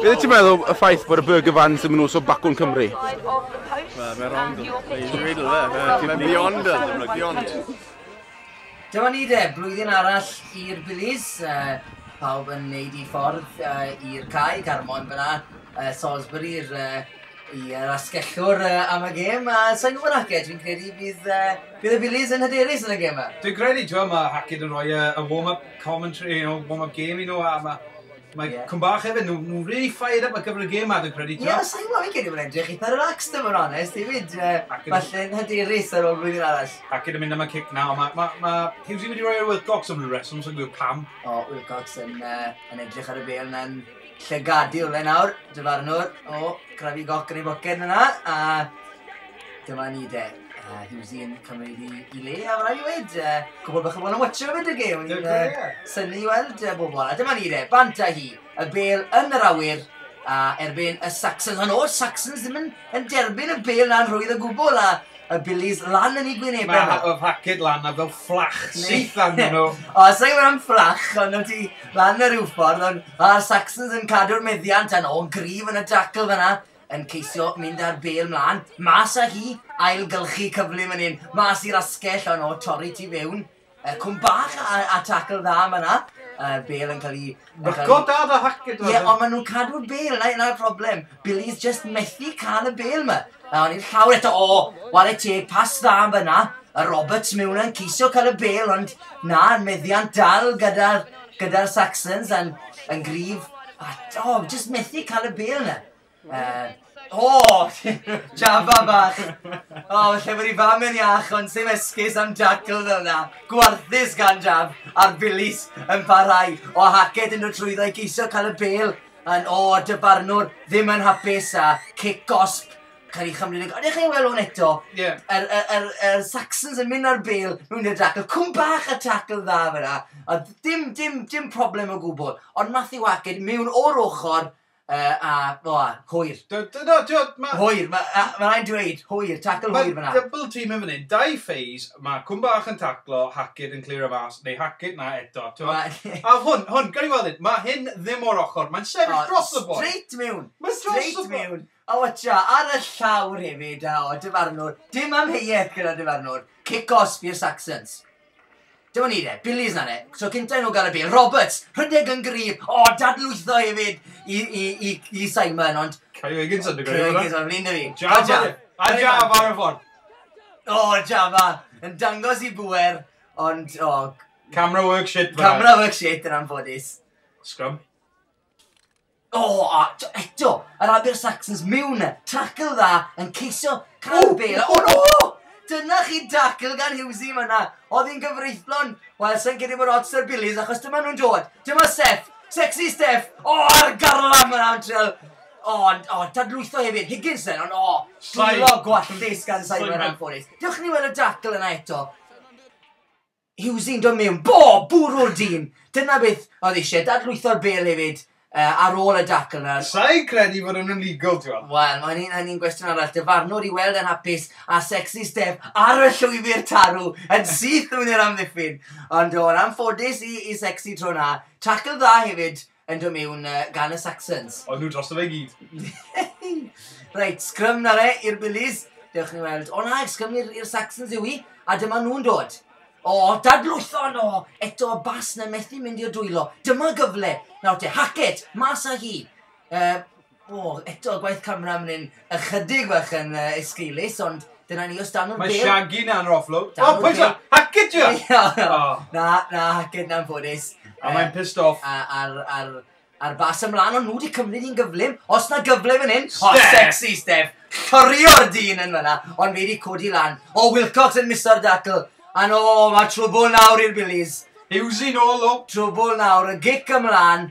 Be wyt ti'n meddwl y ffaith bod y Burger Vans ddim yn nos o bacwn Cymru? Wel, mae'n wrong. Mae'n real, fe. Mae'n beyond us. Mae'n beyond. Dyma ni de, blwyddyn arall i'r Billies. Uh, pawb yn neud i ffordd uh, i'r cae, Carmon fyna, uh, Salisbury, i'r uh, i'r asgellwr uh, am y gêm, a sa'n gwybod Hackett, fi'n credu bydd, uh, bydd y Billies yn hyderus yn y gêm yma. Dwi'n credu, dwi'n mae Hackett yn rhoi uh, y warm-up commentary, you know, warm-up game i nhw, a mae Mae Cwm Bach hefyd, nhw, nhw really fired up ar gyfer y gêm ma, dwi'n credu, ti'n Ie, os i'n gwybod, fi'n credu mae'n edrych eitha relaxed yn fawr onest, i fyd, uh, falle yn hyderus ar ôl blwyddyn arall. Ac yn mynd am y cic na, ond mae ma, ma Hughesy wedi rhoi ar Wilcox am rhyw reswm, sy'n gwybod pam. O, Wilcox yn, uh, yn edrych ar y bel na'n llygadu o le nawr, dyfarnwr, o, crafu goc yn ei boced yna, a dyma ni de. Uh, he was the un cymryd i, i le, a mae'n rhaid i wed, uh, cwbl bach o bod yn watcher o fyd y gêm. Dwi'n uh, syni i weld uh, bobl. A dyma ni re, bant a hi, y bel yn yr awyr, a erbyn y Saxons. Ond o'r Saxons ddim yn, yn derbyn y bel na'n rhwydd y gwbl, a y Billies lan yn ei gwynebau. Mae ha- oedd haced lan a fel fflach syth arnyn nhw. O, sa'n gwybod am fflach, ond o'n ti lan ar rhyw ffordd, ond a'r Saxons yn cadw'r meddiant, a nhw'n gryf yn y dacl fyna, yn ceisio mynd â'r bêl mlân, mas â hi, ailgylchu cyfle man 'yn, mas i'r asgell, o no, torri tu fewn, uh, cwm bach a, a tackle dda man 'na, uh, bêl yn cael ei... Ryco da da Hackett! Ie, ond maen nhw'n cadw'r bêl, yna, yna'r problem. Billy's just methu cael y bêl ma. A o'n i'n llawr eto, o, wale teg, pas dda am fyna, a Roberts mewn yn ceisio cael y bêl, ond na, meddiant dal gyda'r Gyda'r Saxons yn, yn gryf. A, o, oh, jyst methu cael y bel yna. Uh, o, oh, Java bach. O, oh, lle bod i fam yn iach, ond sy'n esgus am jackal fel yna. Gwarthus gan Jav, a'r bilis yn parhau. O, Hackett yn dod trwyddo i geisio cael y bel. Yn, o, oh, dyfarnwr ddim yn hapus a cic gosp Cael ei chymryd yn... Ydych chi'n weld hwn eto? Ie. Yeah. Yr, er, er, er Saxons yn mynd ar bel mewn i'r tackle. Cwm bach y tackle dda fyna. A dim, dim, dim problem o gwbl. Ond Matthew Hackett mewn o'r ochr uh, a, o, a, hwyr. Dyna, dyna, mae... Hwyr, mae'n ma rhaid dweud, hwyr, tackle hwyr fyna. Mae double team yn fan hyn, dau ffeis, mae Cwm bach yn taclo, Hackett yn clir o fas, neu Hackett na eto. A hwn, hwn, gan i weld hyn, mae hyn ddim o'r ochr, mae'n sefyll dros y boi. Straight mewn. Mae'n dros y boi. O ta, ar y llawr hefyd, a o, dyfarnwr, dim amheuaeth gyda dyfarnwr, cic-os fu'r Saxons. Dyma ni de, Billy's na de, so cynta i nhw gael y bel, Roberts, rhedeg yn gryf, o, dadlwytho hefyd i, i, i, i Simon, ond... Cael ei wegyn sy'n digwydd, Cael ei wegyn sy'n digwydd, Java, a Java ar y ffordd. O, Java, yn dangos i bwer, ond, o... Camera work shit, Camera work shit, yn anffodus. Scrum. O, oh, a t- eto, yr Abir Saxons mewn e. Tackle dda yn ceisio cael oh, bel. O, no! Dyna chi tackle gan Hughesy fyna. Oedd hi'n gyfreithlon. Wel, sy'n credu bod ots ar Billy's achos dyma nhw'n dod. Dyma Seth. Sexy Steph. O, oh, ar garlam yn antrel. O, oh, oh, dadlwytho hefyd. Higginson, ond o, oh, llwylo gwallus gan Simon Anforis. Diolch ni weld y tackle yna eto. Hughesyn do mewn bob bwrw'r dyn! Dyna beth oedd eisiau, dadlwytho'r bêl hefyd uh, ar ôl y dackle na. Sa'i credu fod yn illegal, ti'n Wel, mae'n un hynny'n gwestiwn arall. Dyfarnwr i weld yn hapus a sexy step ar y llwybr tarw yn syth mewn i'r amddiffyn. Ond o'n anffodus i, i sexy tro na. Tackle dda hefyd, Yn dod mewn uh, gan y Saxons. O'n nhw drosto fe i gyd. Reit, sgrym na fe i'r Billies. Dewch ni weld. O na, sgrym i'r Saxons yw i. A dyma nhw'n dod. O, dadlwython o! Eto bas na methu mynd i'r dwylo. Dyma gyfle. Nawr te, Hackett, mas â hi. Uh, O, eto gwaith camera myn hyn. Ychydig bach yn uh, esgeulus, ond dyna ni os dan o'r Mae Shaggy na'n roflw. O, pwysa! Hack it you! Na, na, hack it na'n ffodus. A mae'n pissed off. Ar, ar, ar bas ymlaen, ond nhw wedi cymryd i'n gyflym. Os na gyfle fan hyn, o, sexy Steph. Cyrio'r dyn yn fyna, ond fi wedi codi lan. O, Wilcox yn miso'r datl. A no, mae trwbl nawr i'r Billies. Hewsyn o, lo. Trwbl nawr, y gic ymlaen.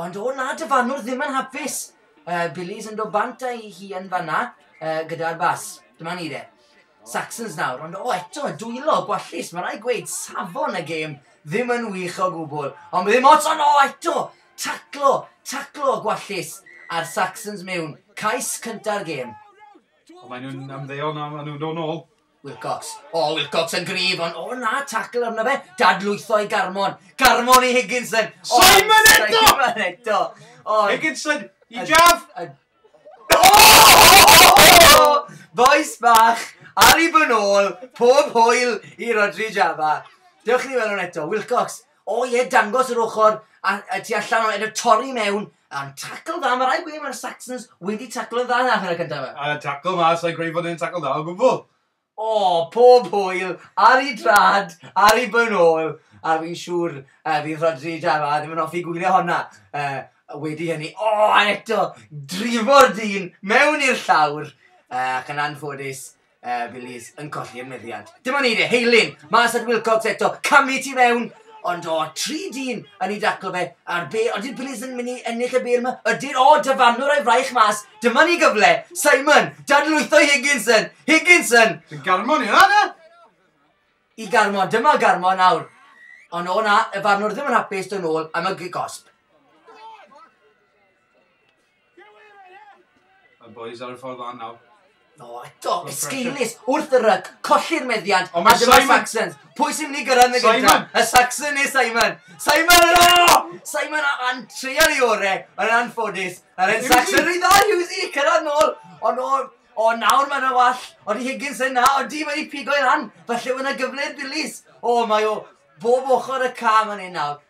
Ond o na, dy fanwr ddim yn hapus. Uh, Billy's yn dod bant a'i hi yn fanna uh, gyda'r bas. Dyma ni de. Saxons nawr, ond o eto, dwylo, gwallus, mae rai gweud safon y gêm ddim yn wych o gwbl. Ond ddim ots, ond o eto, taclo, taclo, gwallus, a'r Saxons mewn, cais cynta'r gêm. Ond maen nhw'n ymddeol na, maen nhw'n dod nôl. Wilcox. O, Wilcox yn gryf, ond o na, tacl arno fe. Dadlwytho i Garmon. Garmon i Higginson. Simon eto! Simon eto. Higginson i Jaf. Boes bach, ar i bw'n ôl, pob hwyl i Rodri Java. Dewch i ni weld hwn eto. Wilcox. O ie dangos yr ochr a, a tu allan o edrych torri mewn a'n tacl dda, mae rhaid gweud mae'r Saxons wedi taclo'n dda yn hanner y cyntaf yma. A tacl ma, sa'n credu bod e'n tacl dda o gwbl. O, pob hwyl, ar i drad, ar i byn ôl, a fi'n siŵr uh, fydd Rodri Java ddim yn hoffi gwylio honna. Uh, wedi hynny, o, a eto, drifo'r dyn mewn i'r llawr, uh, ac yn anffodus, Uh, Billy's yn colli'r meddiant. Dim ond eiriau, Heilyn, mas at Wilcox eto, camu ti fewn, ond o, tri dyn yn ei daclo fe, a'r be, ond ydy'r Billy's yn mynd i ennill y be yma? Ydy'r, o, dyfarnwr o'i fraich mas, dyma ni gyfle, Simon, dadlwytho Higginson, Higginson! Ti'n garmon i hwnna? I garmon, dyma garmon nawr. Ond o na, y farnwr ddim yn hapus dod nôl am y gosb. Mae'r boys ar y ffordd lan nawr. No, eto, esgeulus, wrth y ryc, colli'r meddiant, a dyma Simon. Saxons. Pwy sy'n mynd i gyrraedd yn y gyda? Y Saxon neu Simon? Simon yn o! Simon a'n treial i ore, yn anffodus. A'r un Saxon rhy dda, Hughesy, cyrraedd nôl, ond o, o nawr mae'n awall, ond i Higgins yna, ond di wedi pigo i ran, falle yna gyfle'r dilys. O, mae o bob ochr y cam yn un nawr.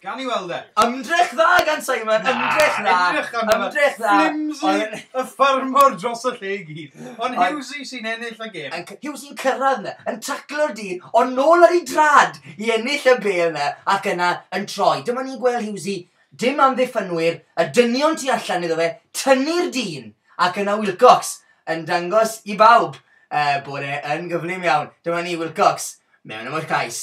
Gawn ni weld e. Ymdrech dda gan Simon, ymdrech dda. Na, edrych arno fe. Ymdrech dda. Flimsy y ffarmwr dros y lle i gyd. Ond Ond- Hughesy sy'n ennill y gêm. Yn c- Hughes yn cyrraedd yna, yn taclo'r dyn, ond nôl ar ei drad i ennill y bel yna, ac yna yn troi. Dyma ni'n gweld Hughesy, dim amddiffynwyr, y dynion tu allan iddo fe, tynnu'r dyn, ac yna Wilcox yn dangos i bawb uh, bod e yn gyflym iawn. Dyma ni, Wilcox, mewn am y cais.